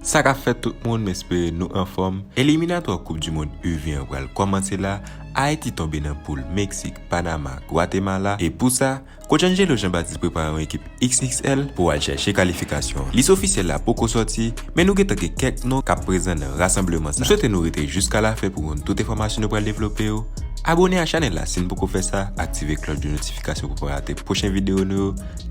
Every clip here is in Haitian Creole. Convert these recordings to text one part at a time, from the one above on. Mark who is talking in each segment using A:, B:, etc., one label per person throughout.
A: Sa ka fèt tout moun m espere nou anfòm, eliminatwa koup du mond U20 an pral kòmanse la, Ayiti tonbe nan poul Meksik, Panama, Gwatemala e pou sa, Coach Angelo Jean Baptiste prepare yon ekip XXL pou al chèche kalifikasyon an. Lis ofisyèl la poko sòti, men nou gentan gen kèk non kap prezan nan rasanbleman sa. M swete nou rete jiska lafen pou konn tout enfòmasyon nou pral devlope yo. Abone a chanèl la si n poko fè sa, aktive klòch de notifikasyon pou pa rate pwochen videyo nou yo,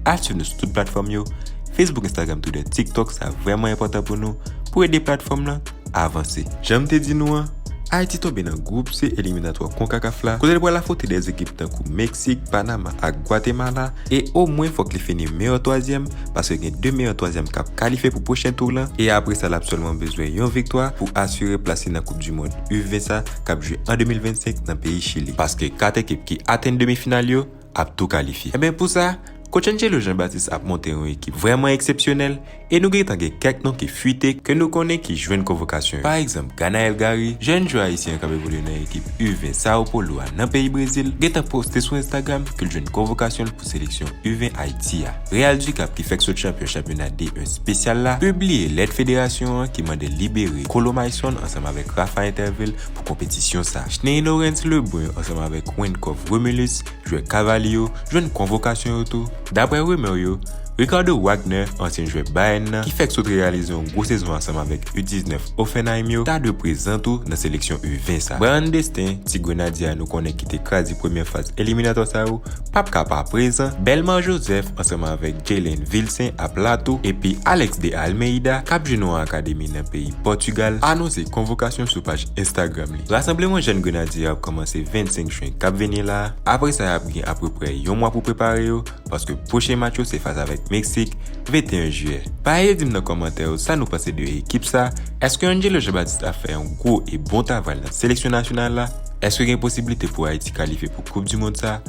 A: al swiv nou sou tout platfòm yo, Facebook, Instagram, Twitter, TikTok, sa vrèman enpòtan pou nou, pou ede platfòm lan. avanse. Jan m te di nou an, Ayiti tonbe nan gwoup C eliminatwa Concacaf la kote l pral afwonte 2 ekip tankou Meksik, Panama ak Gwatemala e omwen fòk li fini meyò twazyèm paske gen 2 meyò twazyèm k ap kalifye pou pwochen tour lan e apre sa l ap sèlman bezwen yon viktwa pou asire plas li nan koup du mond U20 sa k ap jwe an 2025 nan peyi Chili paske 4 ekip ki atenn demi final yo ap tou kalifye. Enben pou sa, Coach Angelo Jean Baptiste ap monte yon ekip vrèman eksepsyonèl e nou gentan gen kèk non ki fwite ke nou konnen ki jwenn konvokasyon yo. Pa egzanp, Ganaël Garry, jèn jwè ayisyen an k ap evolye nan ekip U-20 Sao Paulo a nan peyi Brezil, gentan poste sou Instagram ke l jwenn konvokasyon l pou seleksyon U-20 Ayiti a. Real Ducapp ki fèk sot chanpyon chanpyona D1 spesyal la, pibliye lèt federasyon an ki mande l libere Colo Maysson ansanm avèk Rafa Interville, pou konpetisyon sa. Shnery Lorens Lebrun ansanm avèk Wenckoff Romulus, jwè Cavaly yo, jwenn konvokasyon yo tou. Daprè rumeur yo, Ricardo Wagner, ansyen jwè Bayern nan, ki fèk sot reyalize yon gwo sezon ansanm avèk U19 Hoffenheim yo, ta dwe prezan tou nan seleksyon U20 sa. Bryan Destin, ti Grenadye a nou konnen ki te kraze premyè faz eliminatwa sa yo, Pap ka pa prezan, Belmar Joseph ansanm avèk Jaylen Vilcin ap la tou epi Alex de Almeida kap jwe nan yon akademi nan peyi Pòtugal anonse konvokasyon sou paj Instagram li. Rasanbleman jèn Grenadye yo ap kòmanse 25 Juin kap vini la, apre sa yap gen apreprè yon mwa pou prepare yo paske pwochen match yo se fas avèk Meksik 21 Juillet. Pa eye'e dim nan kòmantè yo sa nou panse de ekip sa, èske Angelo Jean-Baptiste ap fè yon gwo e bon tavray nan seleksyon nasyonal la, èske gen posibilite pou Ayiti kalifye pou koup du mond sa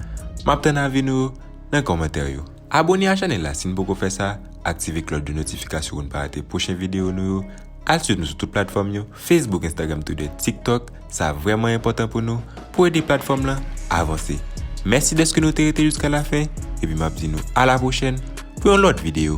A: map tann avi nou yo nan kòmantè yo. Abone a chanèl la si n poko fè sa, aktive klòch de notifikasyon pou n pa rate pwochen videyo nou yo, al swiv nou sou tout platfòm yo, Facebook, Instagram, Twitter, TikTok, sa vrèman enpòtan pou nou, pou ede platfòm lan avanse. Mèsi dèske nou te rete jiska la fen, epi map di nou a la pwochèn pou yon lòt videyo.